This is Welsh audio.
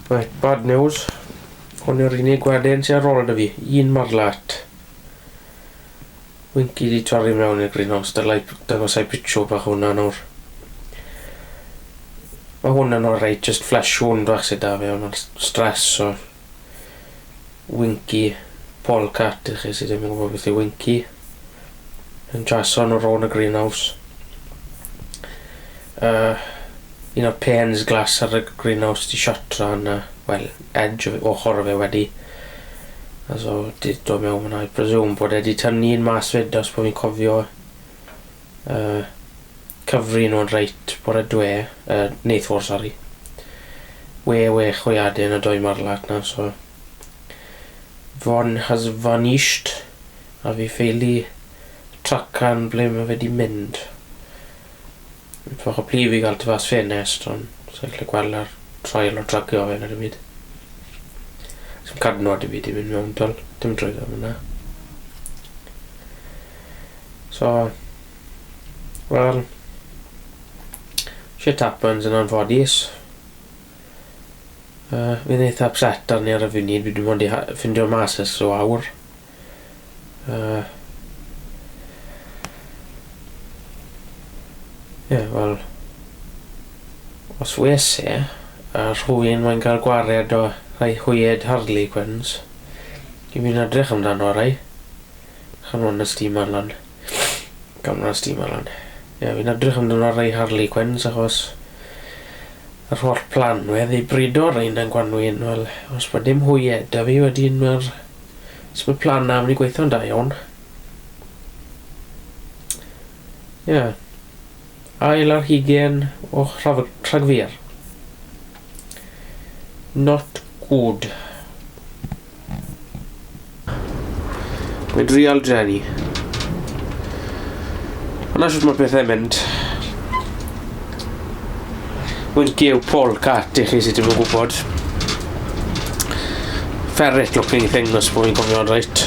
Reit, bad news. Hwn yw'r unig waden sydd ar ôl 'da fi. Un marlat. Winky di torri mewn i'r greenhouse. Dylai dangosau picture bach hwnna nawr. Mae hwn yn orau, just flash hwn bach sydd da fi, ond mae'n stress, so... Winky Paul Catt i chi sydd ddim yn gwybod beth yw Winky yn Jason o Rowan y Greenhouse uh, un o'r pens glas ar y Greenhouse di siatra yn uh, well, edge o ochr fe wedi a so di dod mewn fyna i presume bod e di tynnu un mas fyd os bod fi'n cofio uh, Cyfrinodd reit bore dwe yy neithwr sori. We we chwiadyn y doi marlach na so one has vanished a fi ffeili tracan ble ma fe di mynd. Fach o pli fi gal tu fas ffenest on sai gallu gwel yr traul o tracio fe na dim byd. Sim cadno di fi di mynd mewn twel dim trwyddo fo na. So. Wel, shit happens yn anffodus. Yy, fi'n eitha upset arni ar y funud, fi dim ond 'di ha- ffindio mas ers ryw awr. Yy. Ie, wel, os wes i a rhywun moyn ca'l gwared o rhai hwyed Harlequins, dwi myn' i edrych amdano rhai. Canol nos steamer lan. Canol nos steamer lan. Ie, fi'n edrych amdano ar ei Harley Quinns achos yr holl planwedd i brido ar ein yn gwanwyn, wel, os mae dim hwy eda fi wedyn mae'r... Os mae plan na, mae'n i gweithio'n da iawn. Ie. Yeah. Ail ar hugen o rhagfyr. Not good. Mae drial Jenny. Yna sut mae pethau mynd. Mae'n gew pol cat i chi sydd ddim yn gwybod. Ferret looking thing os bod fi'n cofio'n reit.